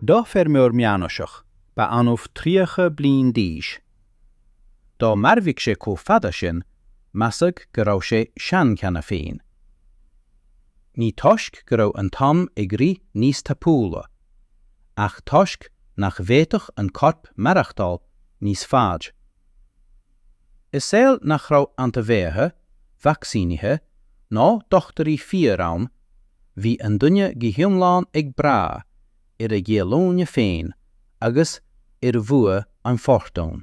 Do feirmeoir meánaoiseach, ba annamh 30 bliain d'aois. Dá mairfeadh sé chomh fada sin, measadh go raibh sé sean cheana féin. Ní toisc go raibh an t-am ag rith níos tapúla, ach toisc nach bhféadfadh an corp maireachtáil níos faide. I saol nach raibh antaibheathaigh, vacsaínithe ná dochtúirí fíor ann, bhí an duine go hiomlán ag brath ar a dhíolúine féin agus ar bhua an fhortúin.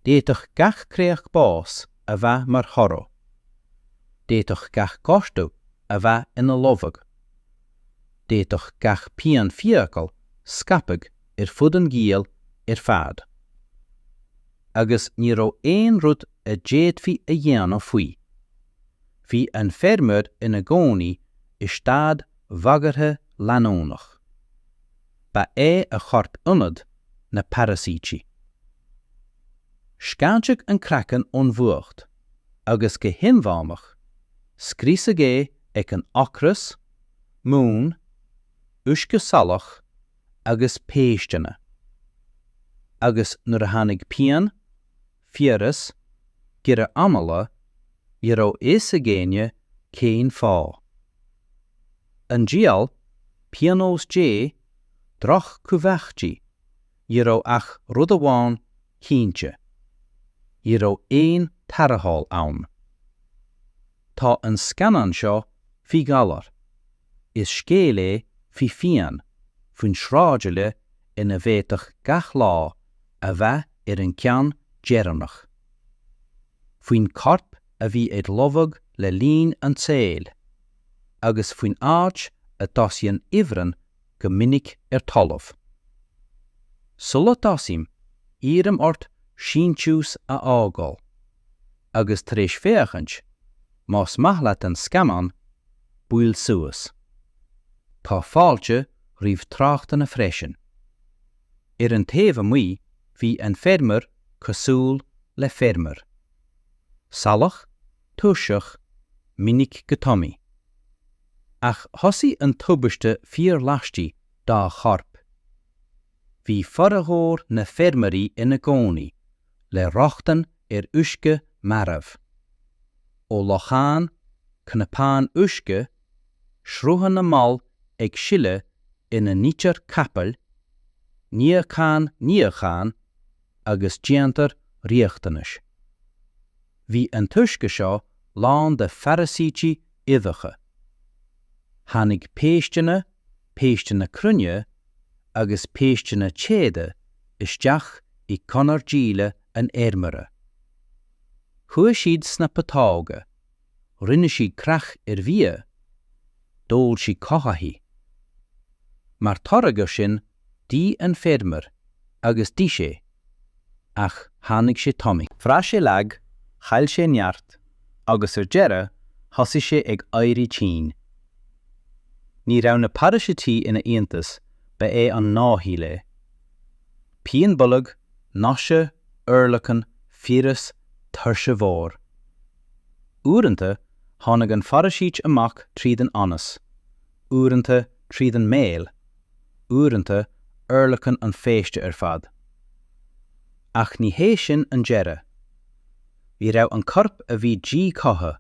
D'fhéadfadh gach créacht bás a bheith mar thoradh. D'fhéadfadh gach gortú a bheith ina lobhadh. D'fhéadfadh gach pian fiacail scaipeadh ar fud an ghiall ar fad, agus ní raibh aon rud a d'fhéadfaí a dhéanamh faoi. Bhí an feirmeoir ina gcónaí i staid bhagartha leanúnach. Ba é a chorp ionad na paraisítí. Scáintí an craiceann ón bhfuacht, agus go hinmheánach, scriosadh é ag an ocras, mún, uisce salach, agus péisteanna, agus nuair a tháinig pian, fiabhras, giorra anála, ní raibh fhios ag éinne cén fáth. An diabhal, pionós Dé, droch-chumhachtaí, ní raibh ach rud amháin cinnte, ní raibh aon tarrtháil ann. Tá an scannán seo faoi ghalar. Is scéal é faoi phian, faoin sráidbhaile ina bhféadfadh gach lá a bheith ar an gceann deireanach. Faoin chorp a bhí ag lobhadh le linn an tsaoil, agus faoin áit a dtosaíonn ifreann go minic ar talamh. Sula dtosaím, iarraim ort síntiús a fhágáil. agus tar éis féachaint, má's maith leat an scannán, buail suas. Tá fáilte roimh tráchtanna freisin. Ar an taobh amuigh bhí an feirmeoir cosúil le feirmeoir. Salach, tuirseach, minic go tomi. Ach thosaigh an tubaiste fíor laistigh dá chorp. Bhí formhór na bhfeirmeoirí ina gcónaí le rochtain ar uisce marbh. Ó locháin, cnapáin uisce, sruthanna mall ag sileadh ina n-itear capaill, níochán níocháin agus déantar riachtanais. Bhí an t-uisce seo lán de pharaisítí uibheacha. Tháinig péisteanna, péisteanna cruinne agus péisteanna téada isteach i gconair díleá an fheirmeora. Chuaigh siad sna putóga, rinne siad creach ar bhia, d'ól siad cothaithigh. Mar toradh air sin, d'ith an feirmeoir agus d'ith sé. Ach tháinig sé tanaí. Bhraith sé lag, chaill sé neart, agus ar deireadh thosaigh sé ag éirí tinn. Ní raibh na paraisítí ina iontas, ba é an gnáthshaol é. Pian bolg, nausea, urlacan, fiabhras, tuirse mhór. Uaireanta, tháinig an pharaisít amach tríd an anas, uaireanta tríd an mbéal, uaireanta urlacan an phéiste ar fad. Ach ní hé sin an deireadh. Ní raibh an corp a bhí díchothaithe,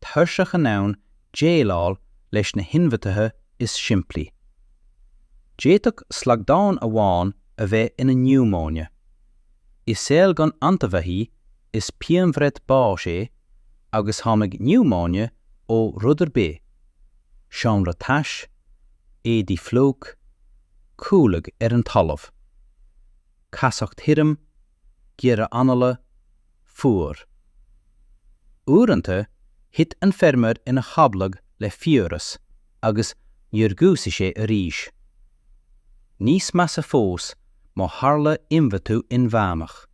tuirseach in ann déileáil leis na hionfhabhtuithe is simplí. D'fhéadfadh slaghdán amháin a bheith ina niúmóine. I saol gan antaibheathaigh Is pianbhreith báis é agus tháinig niúmóine ó rud ar bith, seomra tais, éadaí fliuch, codladh ar an talamh, casacht thirim, giorra anála, fuar. Uaireanta, thit an feirmeoir ina chodladh le fiabhras agus níor dhúisigh sé arís. Níos measa fós, má tharla ionfhabhtú inmheánach.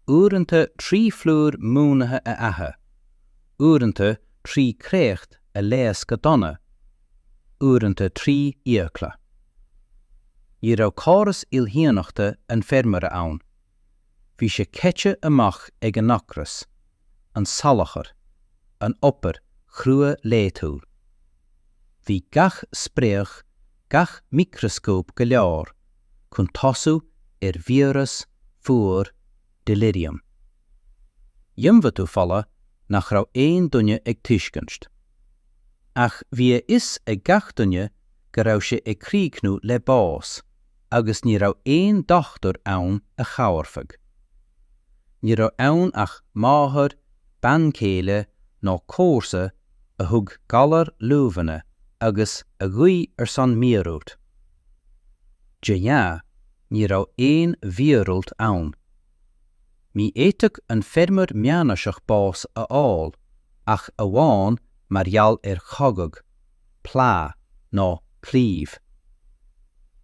Uaireanta trí phlúr múnlaithe a ithe, uaireanta trí chréacht a leigheas go dona, uaireanta trí fhiacla. Ní raibh córas imdhíonachta an fheirmeora ann. Bhí sé caite amach ag an ocras. an salachar, an obair chrua laethúil. Bhí gach spréach, gach micreascóp go leor chun tosú ar fiabhras, fuar, delirium, ionfhabhtú fola nach raibh aon duine ag tuiscint. Ach bhí a fhios ag gach duine go raibh sé ag críochnú le bás, agus ní raibh aon dochtúir ann a chabhairfeadh. Ní raibh ann ach máthair, bean céile nó comharsa a thug galar luibheanna agus a ghuigh ar son míorúilt. De ghnáth, ní raibh aon mhíorúilt ann. Ní fhéadfadh an feirmeoir meánaoiseach bás a fháil ach amháin mar gheall ar chogadh. plá nó claíomh.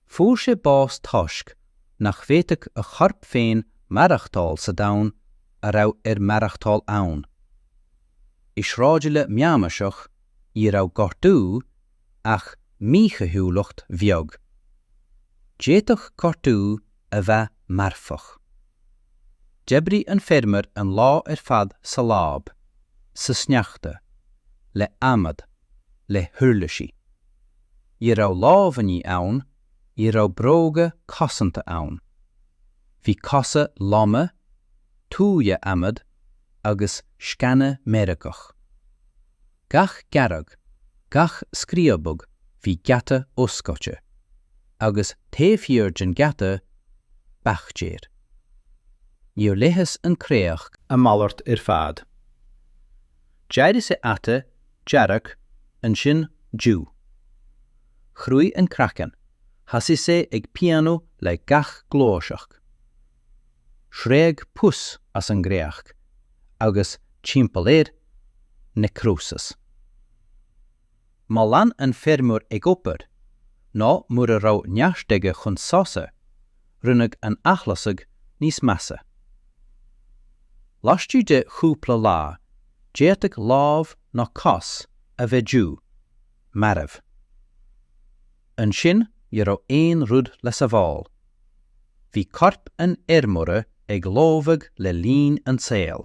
Fuair sé bás toisc nach bhféadfadh a chorp féin maireachtáil sa domhan a raibh air maireachtáil ann. I sráidbhaile meánaoiseach ní raibh gortú ach míchaoithiúlacht bheag. D'fhéadfadh gortú a bheith marfach. D'oibrigh an feirmeoir an lá ar fad sa láib, sa sneachta, le hadhmad, le huirlisí. Ní raibh lámhainní ann, ní raibh bróga cosanta ann. Bhí cosa loma, tua, adhmad agus sceana meirgeach. Gach gearradh, gach scríobadh bhí geata oscailte, agus taobh thiar den gheata, baictéir. Níor leigheas an créacht. a mhalairt ar fad. D'éirigh sé ata dearg, ansin dubh. Chruaigh an craiceann, thosaigh sé ag pianú le gach gluaiseacht. Shreabh pus as an gcréacht, agus timpeall air, necrosis. Má lean an feirmeoir ag obair, nó mura raibh neart aige chun sosa, rinneadh an t-athlasadh níos measa. Laistigh de chúpla lá, d'fhéadfadh lámh nó cos a bheith dubh, marbh. Ansin ní raibh aon rud le sabháil. Bhí corp an fheirmeora ag lobhadh le linn an tsaoil.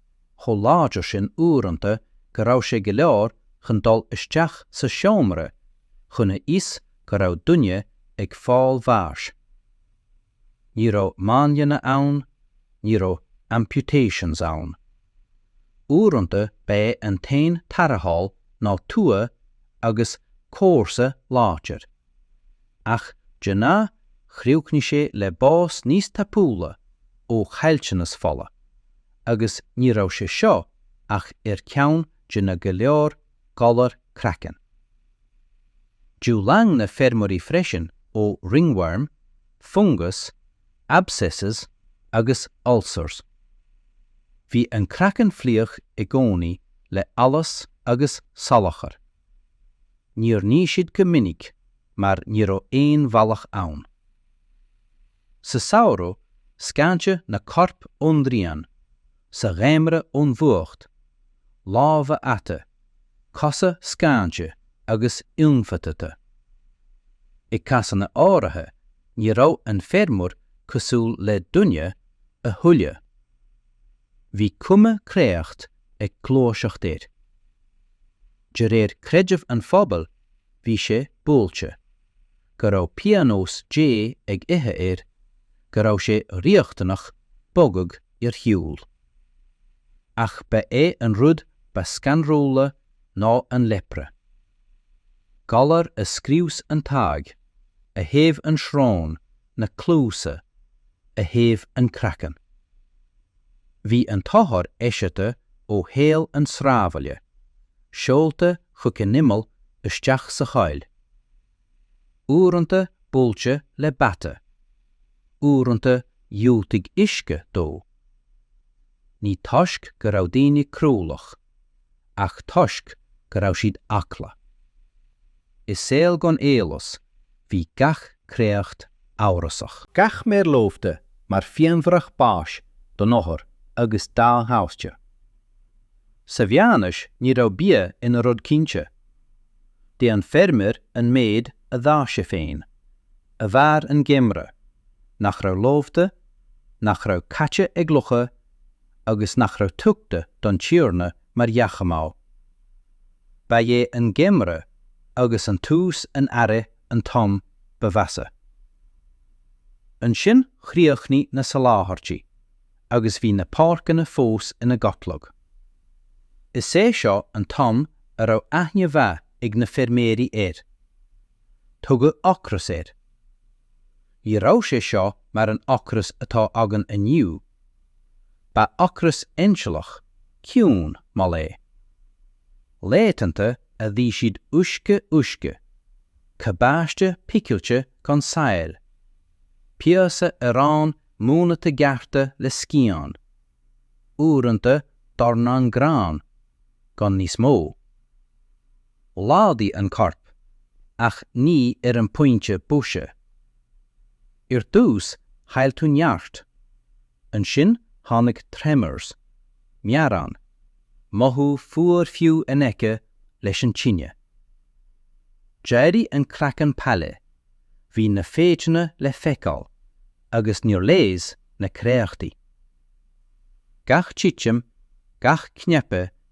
chomh láidir sin uaireanta go raibh sé go leor chun dul isteach sa seomra chun a fhios go raibh duine ag fáil bháis. Ní raibh máinlianna ann, ní raibh amputations ann. Uaireanta ba é an t-aon tarrtháil ná tua agus comharsa láidir. Ach de ghnáth chríochnaigh sé le bás níos tapúla ó chaillteanas fola, agus ní raibh sé seo ach ar cheann de na go leor galar craicinn. D'fhulaing na feirmeoirí freisin ó ringworm, fungus, abscesses agus ulcers. Bhí an craiceann fliuch i gcónaí le allas agus salachar. Níor nigh siad go minic mar ní raibh aon bhealach ann. Sa samhradh, scáineadh na coirp ón ngrian, sa gheimreadh ón bhfuacht, lámha ata, cosa scáinte agus ionfhabhtaithe. I gcásanna áirithe, ní raibh an feirmeoir cosúil le duine a thuilleadh. Bhí cuma créacht ag gluaiseacht air. De réir creideamh an phobail, bhí sé buailte, go raibh pionós Dé ag ithe air, go raibh sé riachtanach bogadh ar shiúl. Ach ba é an rud ba scanrúla ná an Lepra. Galar a scrios an t-aghaidh, a théamh an srón, na cluasa, a théamh an craiceann. Bhí an t-othar eisiata ó shaol an tsráidbhaile, seolta chuig an imeall isteach sa choill. Uaireanta buailte le bata, uaireanta dhiúltaigh uisce dó. Ní toisc go raibh daoine cruálach. ach toisc go raibh siad eagla. I saol gan eolas bhí gach créacht amhrasach. Gach méar lobhta mar phianbhreith báis don othar agus dá thaibhse. Sa mheánaois ní raibh bia ina rud cinnte. D'ith an feirmeoir an méid a d'fhás sé féin, a mhair an geimhreadh, nach raibh lobhta, nach raibh caite ag lucha, agus nach raibh tugtha don Tiarna mar dheachmáil. Ba é an geimreadh agus an tús an earraigh an t-am ba mheasa. Ansin chríochnaigh na soláthairtí agus bhí na páirceanna fós ina gcodladh. Is é seo an t-am a raibh aithne mhaith ag na feirmeoirí air. Tugadh ocras air. Ní raibh sé seo mar an ocras atá againn inniu Ba ocras ainsealach, ciúin, mall é. Laethanta a bhí siad uisce uisce, cabáiste picilte gan saill, píosa aráin múnlaithe gearrtha le scian, uaireanta dornán grán, gan níos mó. Laghdaigh an corp, ach ní ar an bpointe boise. Ar dtús chaill tú neart, ansin tháinig tremors, meadhrán, mothú fuar fiú in aice leis an tine. D'éirigh an craiceann pale, bhí na féitheanna le feiceáil, agus níor leigheas na créachtaí. Gach titim, gach cnaipe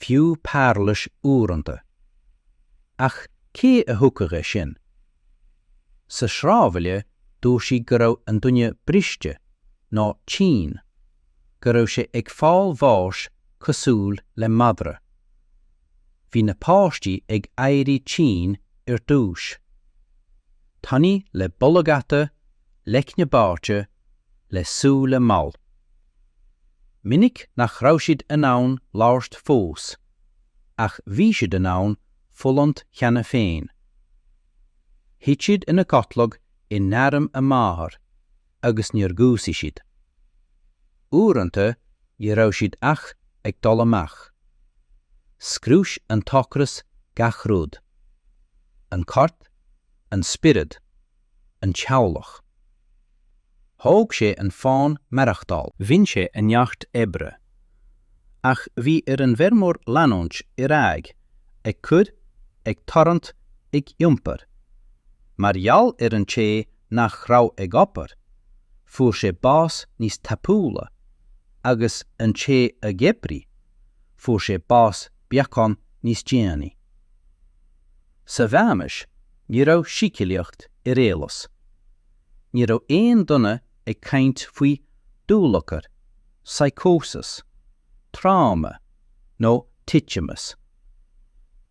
fiú pairilis uaireanta. Ach cé a thuigfeadh é sin? Sa sráidbhaile dúirt siad go raibh an duine briste, nó tinn, go raibh sé ag fáil bháis cosúil le madra. Bhí na páistí ag éirí tinn ar dtús. Tanaí le bolg ata, leicne báite, le súile mall. Minic nach raibh siad in ann labhairt fós, ach bhí siad in ann fulaingt cheana féin. Thit siad ina gcodladh in airm a máthar agus níor dhúisigh siad. Uaireanta ní raibh siad ach ag dul amach. Scrios an t-ocras gach rud. An corp, an spiorad. an teaghlach. Thóg sé an fonn maireachtáil. Bhain sé an neart oibre. Ach bhí ar an bhfeirmeoir leanúint ar aghaidh, ag cur, ag tarraingt, ag iompar. Mar gheall ar an té nach raibh ag obair, fuair sé bás níos tapúla, agus an té a d'oibrigh, fuair sé bás beagán níos déanaí. Sa Mheánaois ní raibh síceolaíocht ar eolas. Ní raibh aon duine ag caint faoi dúlagar, psychosis, tráma nó titimeas.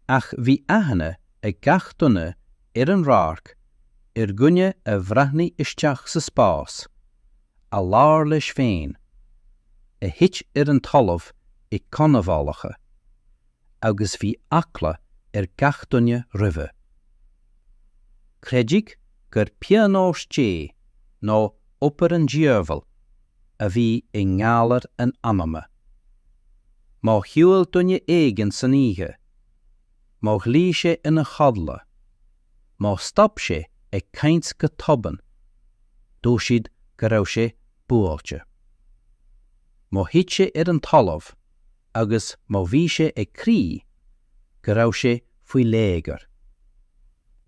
Ach bhí aithne ag gach duine ar an radharc ar dhuine a bhreathnaigh isteach sa spás, a labhair leis féin, a thit ar an talamh i gcánaibhálacha, agus bhí eagla ar gach duine roimhe. Creideadh gur pionós Dé nó obair an Diabhail a bhí i ngalar an anama. Má shiúil duine éigin san oíche, má ghlaoigh sé ina chodla, má stop sé ag caint go tobann, dúirt siad go raibh sé buailte. Má thit sé ar an talamh, agus má bhí sé ag crith, go raibh sé faoi léigear.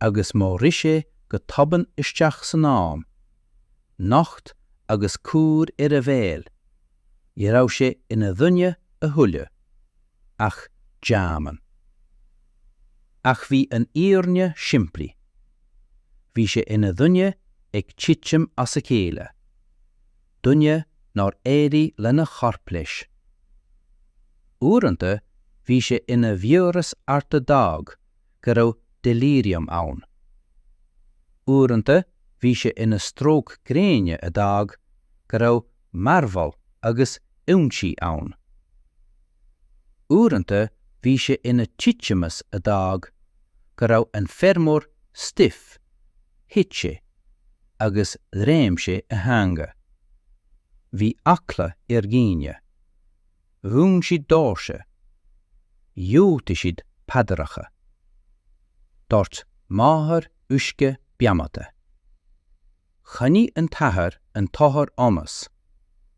Agus má rith sé go tobann isteach san am, nocht agus cúr ar a bhéal, ní raibh sé ina dhuine a thuilleadh, ach deamhan. Ach bhí an fhírinne simplí. Bhí sé ina dhuine ag titim as a chéile. duine nár éirigh lena chorp leis. Uaireanta bhí sé ina bhfiabhras ard a d'fhág go raibh delirium ann. Uaireanta bhí sé ina stróc gréine a d'fhág go raibh mearbhall agus ionsaí ann. Uaireanta bhí sé ina titimeas a d'fhág go raibh an feirmeoir stiff Thit sé agus ghreim sé a theanga. Bhí eagla ar dhaoine. Dhún siad dóirse. Dúirt siad paidreacha. Dhoirt máthair uisce beannaithe, Choinnigh an t-athair an t-othar ionas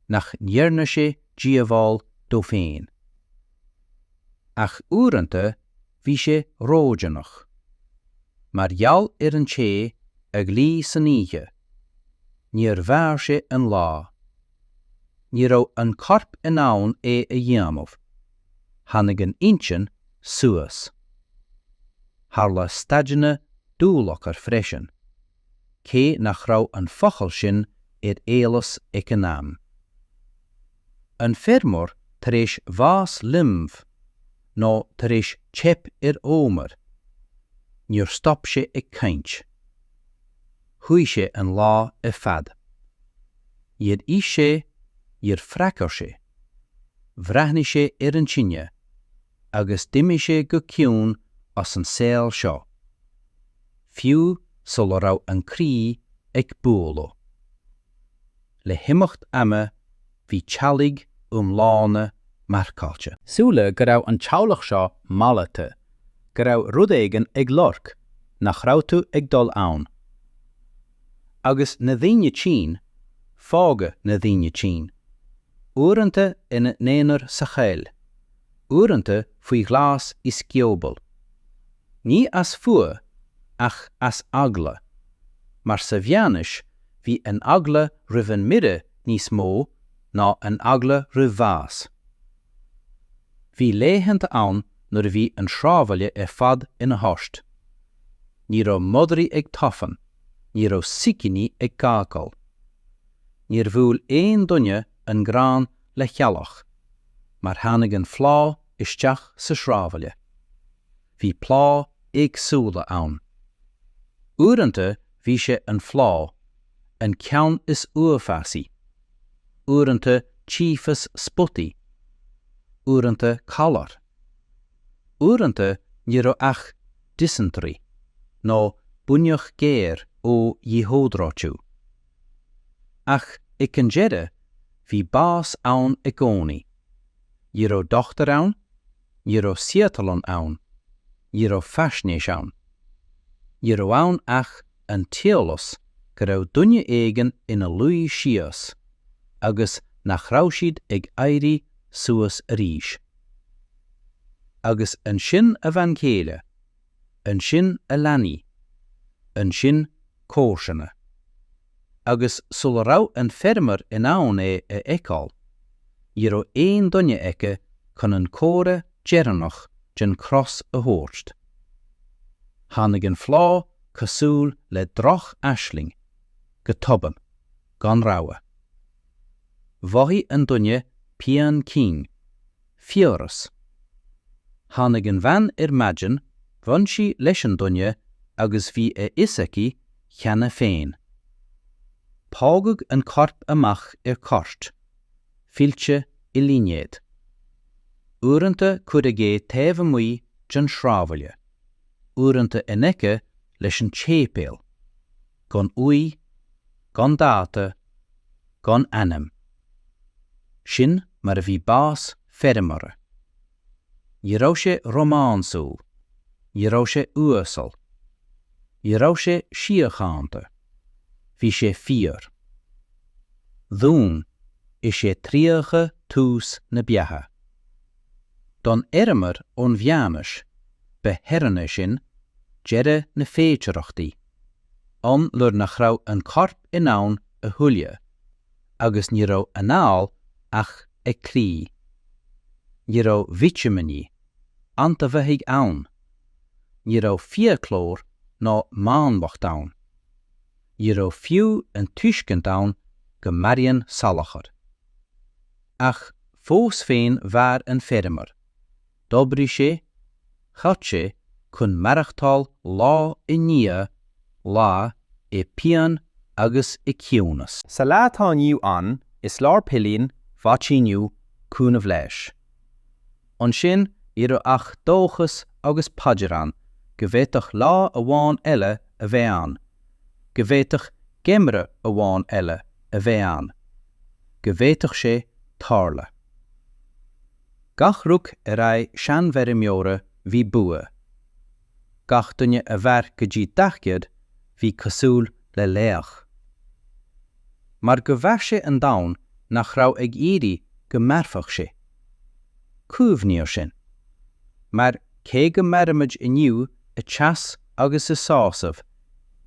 nach ndearna sé díobháil dó féin. Ach uaireanta Bhí sé ródhéanach. Mar gheall ar an té a ghlaoigh san oíche, níor mhair sé an lá. Ní raibh an corp in ann é a dhéanamh, tháinig an intinn suas. Tharla staideanna dúlagair freisin. cé nach raibh an focal sin ar eolas ag an am. An feirmeoir tar éis bhás linbh, nó tar éis teip ar fhómhar. Stop sé ag caint. Shuigh sé an lá ar fad. Níor ith sé, níor fhreagair sé. Bhreathnaigh sé ar an tine, agus d'imigh sé go ciúin as an saol seo, fiú sula raibh an croí ag bualadh. Le himeacht ama bhí teaghlaigh iomlána marcáilte. Síleadh go raibh an teaghlach seo mallaithe, go raibh rud éigin olc, nach raibh tú ag dul ann. Agus na daoine tinn, fágadh na daoine tinn, uaireanta ina n-aonar sa choill, uaireanta faoi ghlas i scioból. Ní as fuath, ach as eagla. Mar sa mheánaois, bhí an eagla roimh an mire níos mó ná an eagla roimh bhás. Bhí laethanta ann nuair a bhí an sráidbhaile ar fad ina thost. Ní raibh madraí ag tafann, ní raibh sicíní ag gágail. Níor bhuail aon duine an grán le heallach, mar tháinig an phlá isteach sa sráidbhaile. Bhí plánna éagsúla ann. Uaireanta bhí sé an phlá, an ceann is uafásaí, uaireanta tífeas spotaí, uaireanta calar. Uaireanta ní raibh ach dysentery, nó buinneach ghéar ó dhíhiodráitiú. Ach ag an deireadh, bhí bás ann i gcónaí. Ní raibh dochtúir ann, ní raibh saotharlann ann, ní raibh faisnéis ann. Ní raibh ann ach an t-eolas go raibh duine éigin ina luí síos agus nach raibh siad ag éirí suas arís. Agus ansin a bhean chéile. ansin a leanaí, ansin comharsana. Agus sula raibh an feirmeoir in ann é a fheiceáil, ní raibh aon duine aige chun an comhartha deireanach den chros a thabhairt. Tháinig an phlá cosúil le droch-aisling, go tobann, gan rabhadh. Mhothaigh an duine pian cinn. Fiabhras. Tháinig an bhean ar maidin, bhain sí leis an duine agus bhí a fhios aici cheana féin. Fágadh an corp amach ar chairt, fillte i línéadach. Uaireanta cuireadh é taobh amuigh den shráidbhaile, uaireanta in aice leis an séipéal, gan uaigh, gan dáta, gan ainm. Sin mar a bhí bás feirmeora. Ní raibh sé rómánsúil, ní raibh sé uasal. Ní raibh sé síochánta. Bhí sé fíor. Dúinn is é tríocha tús na beatha. Don fheirmeoir ón mheánaois, ba theorainn é sin, deireadh na féidearthachtaí, am nuair nach raibh an corp in ann a thuilleadh. agus ní raibh an anáil ach ag cloí. Ní raibh vitimíní, antaibheathaigh ann. Ní raibh fiaclóir ná máinliacht ann. Ní raibh fiú an tuiscint ann go maraíonn salachar. Ach fós féin mhair an feirmeoir. D'oibrigh sé, chaith sé chun maireachtáil lá i ndiaidh lae i bpian agus i gciúnas. Sa lá atá inniu ann is leor pillín, vaicsíniú, cúnamh leighis. Ansin ní raibh ach dóchas agus paidir ann go bhféadfadh lá amháin eile a bheith ann, go bhféadfadh geimreadh amháin eile a bheith ann, go bhféadfadh sé tarlú. Gach roc ar aghaidh seanfheirmeora bhí bua. Gach duine a mhair go dtí daichead bhí cosúil le laoch. Mar go mhair sé an domhan nach raibh ag iarraidh go mairfeadh sé. Cuimhnigh air sin. Mar cé go mairimid inniu i teas agus i sásamh,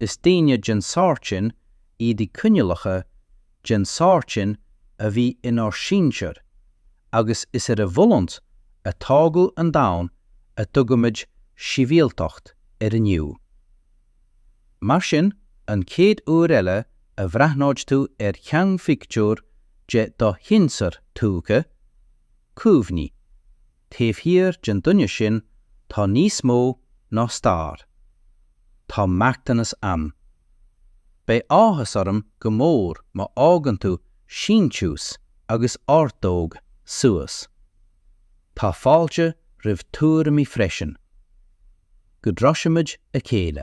is daoine den sórt sin iad i coinníollacha den tsórt sin a bhí inár sinsir agus is ar a bhfulaingt a tógadh an domhan a dtugaimid sibhialtacht air inniu. Mar sin, an chéad uair eile a bhreathnóid tú ar sheanphictiúr de do shinsear tuaithe, cuimhnigh, taobh thiar den duine sin tá níos mó ná stair. Tá marthanas ann. Beidh áthas orm go mór má fhágann tú síntiús agus ordóg suas. Tá fáilte roimh tuairimí freisin. Go dtroisimid a chéile.